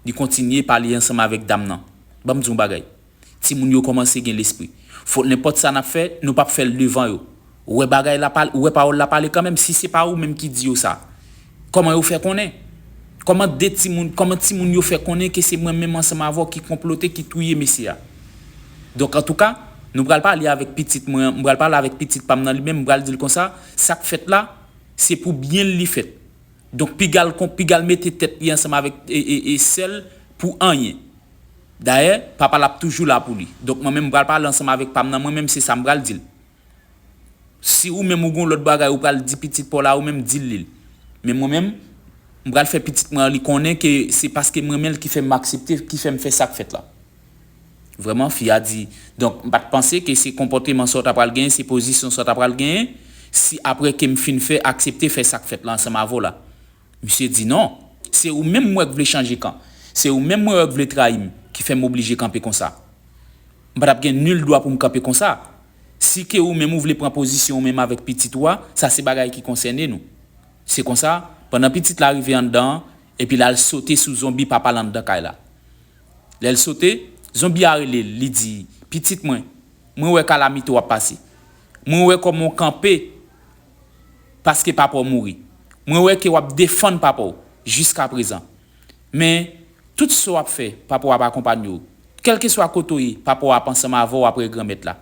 Li kontinye pale ansanm avèk dam nan. Ban m di w yon bagay. Timoun yo kòmanse gen lespri. Fo nenpòt sa n ap fè, nou pap fè l devan yo. Ou wè bagay la pale, ou wè pawòl la pale kanmenm, si se pa ou menm ki di yo sa. Kòman yo fè konnen? Kòman de timoun, kòman timoun yo fè konnen ke se mwen menm ansanm avè w ki konplote, ki touye mesye a? Donk antouka, nou pral pale avèk pitit mwen an, m pral pale avèk pitit pa m nan li menm, m pral di l konsa, sa k fèt la, se pou byen l li fèt. Donk piga l kon piga l mete tèt li ansanm avèk sè l pou anyen. Dayè, papa l ap toujou la pou li. Donk mwen menm m pral pale ansanm avèk pa m nan mwen menm se sa m pral di l. Si ou menm ou gen yon lòt bagay ou pral di pitit pa w la ou menm di l li. Men mwen menm, m pral fè pitit mwen an li konnen ke se paske m renmen l ki fè m aksepte, ki fè m fè sa k fèt la. Vrèman, fi a di, Donk, m pa t panse ke se konpòteman sa w t apral genyen, se pozisyon sa w t apral genyen, si apre ke m fin fè, aksepte fè sa k fèt la ansanm avè w la. Misye di, Non. Se ou menm m wè k vle chanje kan. Se ou menm mwen wè k vle trayi m, ki fè m oblije kanpe konsa. M pa t ap gen nil dwa pou m kanpe konsa. Si ke ou menm ou vle pran pozisyon ou menm avèk pitit ou a, sa se bagay ki konsène nou. Se konsa, pandan pitit la rive anndan an, epi l al sote sou zonbi papa l anndan kay la. Lè l sote, zonbi a rele l, li di, Pitit mwen, mwen wè kalamite w ap pase. Mwen wè kòman w kanpe paske papa w mouri. Mwen wè ke w ap defann papa w jiskaprezan. Men, tout sa w ap fè, papa w ap akonpanye w. Kèlkeswa kote w ye, papa w ap ansanm avè w apre Granmèt la.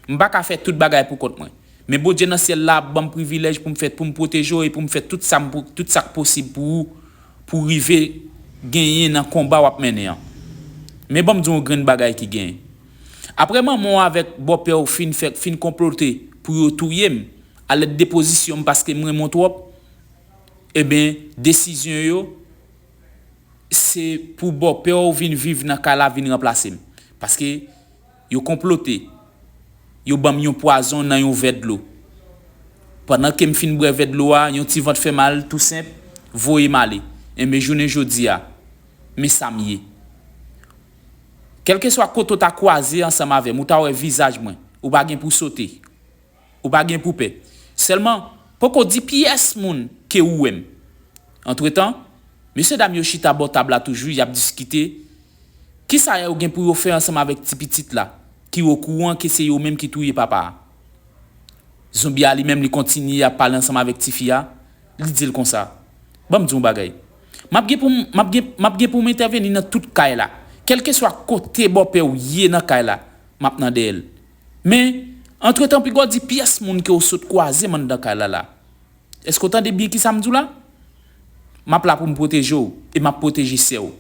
M pa ka fè tout bagay pou kont mwen. Men Bondye nan syèl la ap ban m privilèj pou m fè pou m pwoteje w e pou m fè tout sa m pou tout sa k posib pou ou pou w rive genyen nan konba w ap mennen an. Men ban m di w yon grenn bagay ki gen. Aprè manman w avèk bòpè w fin fè fin konplote pou yo touye m alèd de pozisyon m paske m renmen w twòp enben desizyon yo se pou bòpè w vin viv nan kay la vin ranplase m paske Yo konplote. Yo ban m yon pwazon nan yon vè dlo. Pandan ke m fin bwè vè dlo a, yon ti vant fè mal tou senp voye m ale. Enben jounen jodi a, men sa m ye. Kèlkeswa kote w ta kwaze ansanm avè m, ou ta wè vizaj mwen. Ou pa gen pou w sote. Ou pa gen pou w pè. Sèlman, poko di pyès moun ke ou wè m. Antretan, mesyedam yo chita bò tab la toujou, y ap diskite, Kisa yo gen pou yo fè ansanm avèk ti pitit la ki okouran ke se yo menm ki touye papa a? Zonbi a li menm li kontinye ap pale ansanm avèk ti fi a, li di l konsa, Ban m di w yon bagay. M ap gen pou m m ap gen m ap gen pou m entèveni nan tout kay la. Kèlkeswa kote bòpè w ye nan kay la, m ap nan dèyè l. Men, antretan piga w di pyès moun ke w sot kwaze m anndan kay la la. Èske w tande byen kisa m di w la? M ap la pou m pwoteje w e m ap pwoteje sè w.